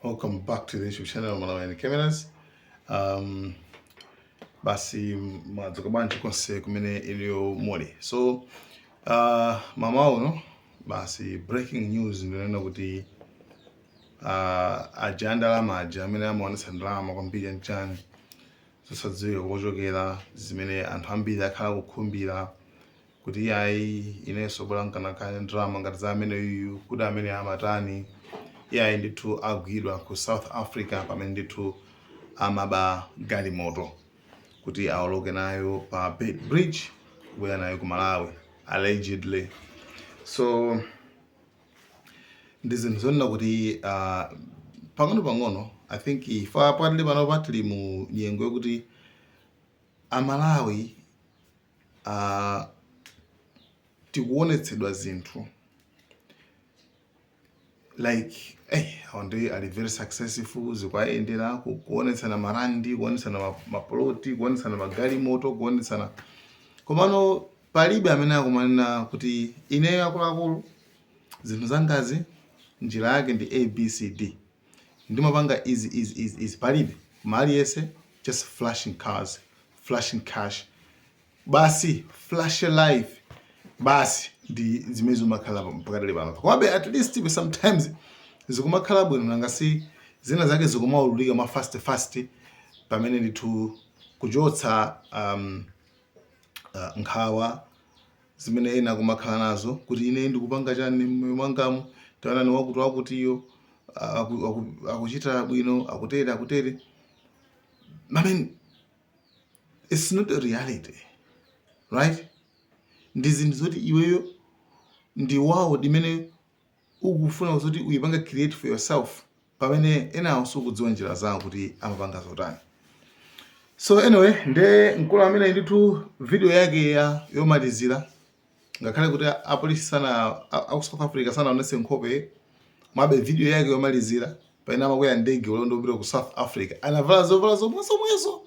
welcome back to the youtube channel malawian cameras um, basi madzuka bwanji konse kumene iliyo muli so uh, mmawa uno basi breaking news ndinena kuti uh, aja andalama aja amene amaonetsa ndalama kwambiri chanichani zosadziwika kochokera zimene anthu ambiri akhala akukhumbira kuti yayi inenso bola nkanakhala ndi ndalama ngati za ameneyuyu kuti amene amatani yayi ndithu agwidwa ku south africa pamene ndithu amaba galimoto kuti aoloke nayo pa Beit bridge kubwera nayo ku malawi allegedly so ndi zinthu zonena kuti uh, pang'ono pang'ono i think ife patili pano patili mu nyengo yokuti amalawi tikuonetsedwa zinthu like eh, onse ali very successful zikuwayendera kuonetsana marandi kuonetsana maploti kuonetsana magalimoto kuonetsana komano palibe amene akumanena kuti ineyo akuluakulu zinthu zangazi njira yake ndi abcd ndimapanga izi izi izi izi palibe koma aliyese just flashing cars flashing cash basi flash life basi ndi zimene zikumakhala pakadali pano komabe at least ife sometimes zikumakhala bwino nanga si zina zake zikumaululika mwa fast fast pamene ndithu kuchotsa um, uh, nkhawa zimene ena akumakhala nazo kuti ine ndikupanga chani mmoyo mwangamu taonani wakuti wakutiyo aku- aku- akuchita bwino akutere akutere i mean it's not a reality right ndi zinthu zoti iweyo ndi wawo imene ukufuna zoti uyipange create for yourself pamene enawo sukudziwa njira zawo kuti amapanga zotani so anyway nde mkulu amene ndithu video yake yomalizira ngakhale kuti apolisi sana aku South Africa sanaonetse nkhope komabe video yake yomalizira pamene amakwera ndege ulendo wopita ku South Africa anavala zovala zomwezomwezo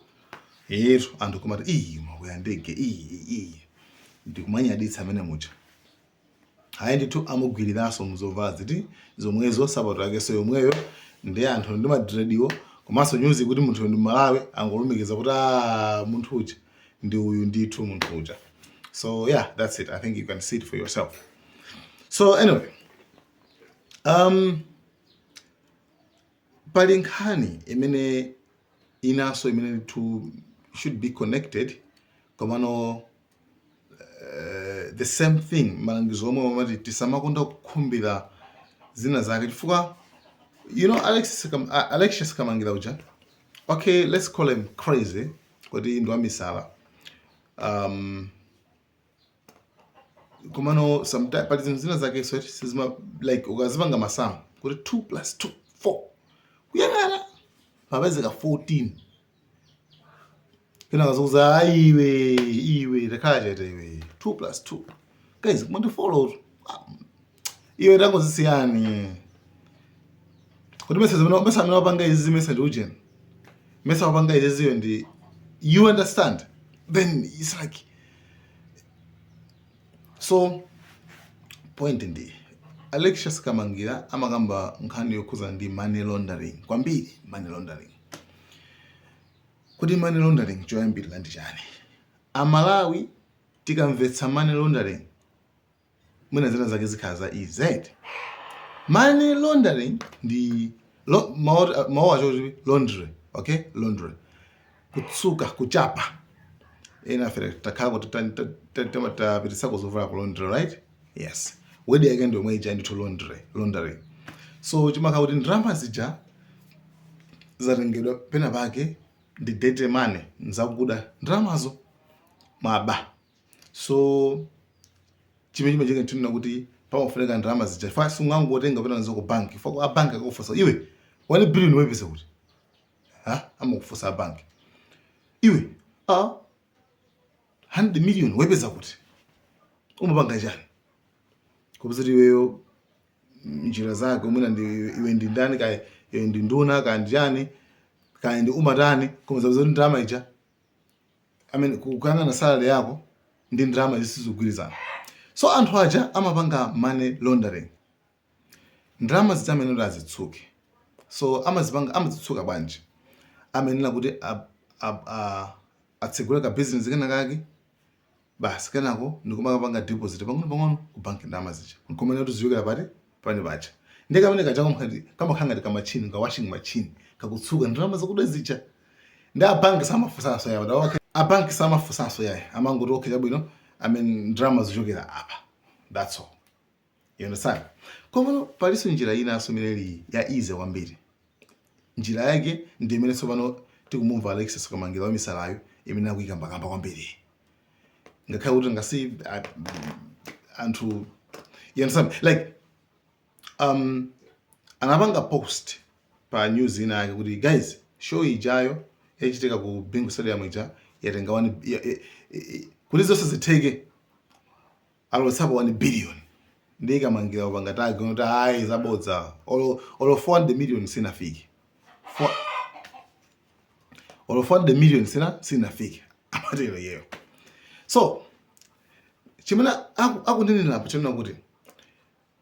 yetu anthu kumati iyi makwera ndege iyi iyi ndikumanyadira amene muja Ayi ndithu amugwiliranso muzovala ziti zomwezo nsapato yakenso yomweyo nde anthu ndi ma dreadiwo komanso nyuzi yakuti munthuyo ndi Mmalawi angolumikiza kuti aah munthu uja ndi uyu ndithu munthu uja so yeah that's it I think you can see it for yourself so anyway um, pali nkhani imene inanso imene ndithu should be connected komano eh, the same thing malangizo omwe amati tisamakonde kukhumbira zina zake chifukwa you know Alex Kam- A- Alexius Kamangila uja okay let's call him crazy kuti ndi wamisala um, komano sometimes pali zinthu zina zake so sizima like ukazipanga masamu kuti 2 plus 2 4 kuyang'ana yapezeka 14 Kenako akukuuza ayi iwe iwe takhalani chete iwe 2 plus 2. Guys, mukundi follow. Iwe tangozisiyani. Kuti mesa zimene mesa amene wapanga izi mesa ndi ujeni. Mesa wapanga izi ziyo ndi you understand? Then it's like so point ndi Alexius Kamangira amakamba nkhani yokhuza ndi money laundering kwambiri money laundering Kodi money laundering choyambirira ndi chani? A Malawi tikamvetsa money laundering mwina zina zake zikhala za easy. Money laundering ndi lo, mawu acho kuti laundry, okay? Laundry. Kutsuka, kuchapa. Enafe timakhala kuti tapititsako zovala ku laundry, right? yes word yake ndi yomwe ija ndithu laundry laundering so chimakhala kuti ndalama zija zatengedwa pena pake ndi dirty money nzakuda ndalamazo mwaba so chimene chimachitika nkunena kuti pamafunika ndalama zija sungangotenga kupita nazo ku banki chifukwa a banki akufunsa iwe 1 billion wepeza kuti ha amakufunsa a banki iwe a 100 million wepeza kuti umapanga chani kupeza iweyo njira zake umwina ndi iwe ndi ndani kaya iwe ndi nduna kaya ndi chani kaya ndi umatani koma azapeza kuti ndalama ija I mean, kuyang'ana salary yako ndi ndalama izi sizogwirizana so anthu aja amapanga money laundering Ndalama zija amayenera kuti azitsuke. So amazipanga, amazitsuka bwanji? Amayenera kuti a, a, a, atsegule ka business kena kake basi kenako ndikumakapanga deposit pang'ono pang'ono ku bank ndalama zija nkumanena kuti zikuchokera pati pa uje paja nde kamene kaja kamkhati kamakhala ngati kamachini ka washing machine kakutsuka ndalama zakuda zija nde a bank samafunsanso yawo da okay a bank samafunsanso iyayi amangoti okay chabwino i mean ndalama zochokera apa that's all You understand? Komano palinso njira inanso imene ili ya easy kwambiri. Njira yake ndi imene tsopano tikumumva Alexis Kamangira wamisalayo imene akuyikambakamba kwambiri. Ngakhale kuti ngasi a- anthu you understand? Like um anapanga post pa news ina yake kuti guys show ijayo yachitika ku Bingu Stadium ija yatenga wani ya- ya- ya- kuti zonse zitheke alowetsapo 1 billion ndiye Kamangira kupanga tag kuti ayi zabodza olo olo 400 million sinafike Fo- olo 400 million sina sinafike amatero iyeyo so chimene aku- akunenera apo chonena kuti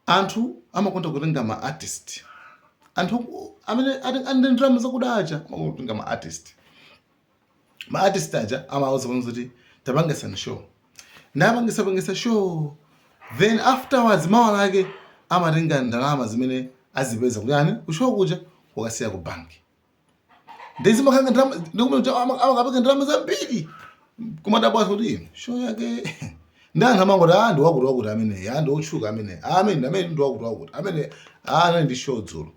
anthu amakonda kutenga ma artist anthu amene ati- ali ndi ndalama zakuda aja amakonda kutenga ma artist ma artist aja amawauza pamodzi kuti tapangisani show n'kupangisa pangisa show then afterwards mawa lake amatenga ndalama zimene azipeza kuyani kushow kuja kukasiya ku bank ndizi makanga ndalama ndikumene amakapereka ndalama zambiri kumadabwa kuti show yake ndi anthu amangoti a ah, ndi wakuti wakuti amene a ah, ndi otchuka amene ah, amene amene ndi wakuti wakuti amene a anali ndi show dzulo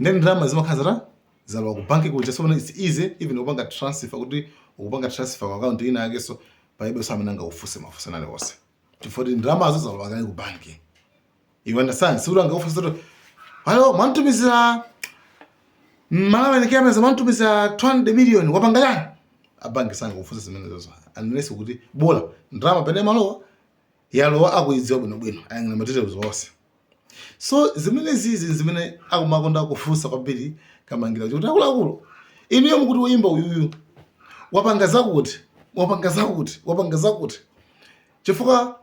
ndi ndalama zimakhala zita zalowa ku bank kuja so it's easy even kupanga transfer kuti ukupanga transfer ku account ina yake so palibeso amene angakufunse mafunso aliwonse chifukwa kuti ndalamazo zalowa kale ku bank you understand si ulanga ufunse kuti halo mwantumizira mmalawa ni kama mwantumizira 200 million wapanga yani a bank sangakufunse zimene zozo unless kuti bola ndalama pamene imalowa yalowa akuyidziwa bwinobwino ayang'ana materials onse so zimene zizi zimene akumakonda kufunsa kwambiri Kamangira kuti akuluakulu inuyo mukuti woyimba uyuyu wapanga zakuti wapanga zakuti wapanga zakuti chifukwa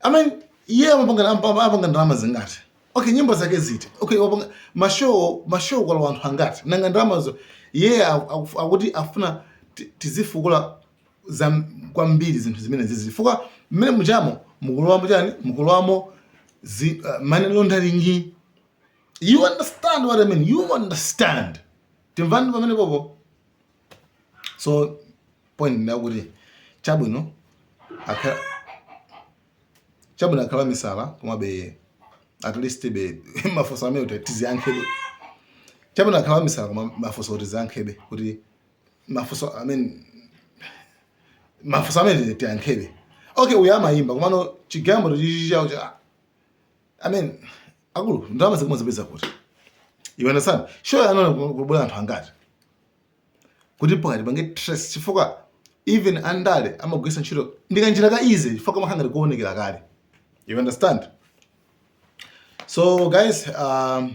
I mean iye amapanga ampa- amapanga ndalama zingati okay nyimbo zake ziti okay wapanga mashow mashow kwa anthu angati nanga ndalamazo iye aku- aku- akuti afuna ti- tizifukula kwambiri zinthu zimene zizi chifukwa mmene mujamo mukulowamo chani mukulowamo zi- uh, money laundering you understand what i mean you understand timvane pamene popo so point ndi yakuti chabwino akha chabwino akhale wamisala komabe at leastbe mafunso amene kuti tiziyankhabe chabwino akhale wamisala koma mafunso kuti tiziyankhabe kuti mafuso i mean mafuso amene tiyankhebe okay uyu amayimba komano chigambo chichawo cha i mean akulu ndalama akumazipeza kuti you understand show yo anabwera anthu angati kuti pakati pange trust chifukwa even andale amagwiritsa ntchito ndikanjira ka easy chifukwa kamakhala ngati kuonekera kale you understand so guys um,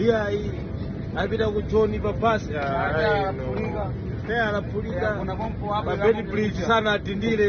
iyayi apita ku joni pa basi anaphulika pa Beitbridge sanadindire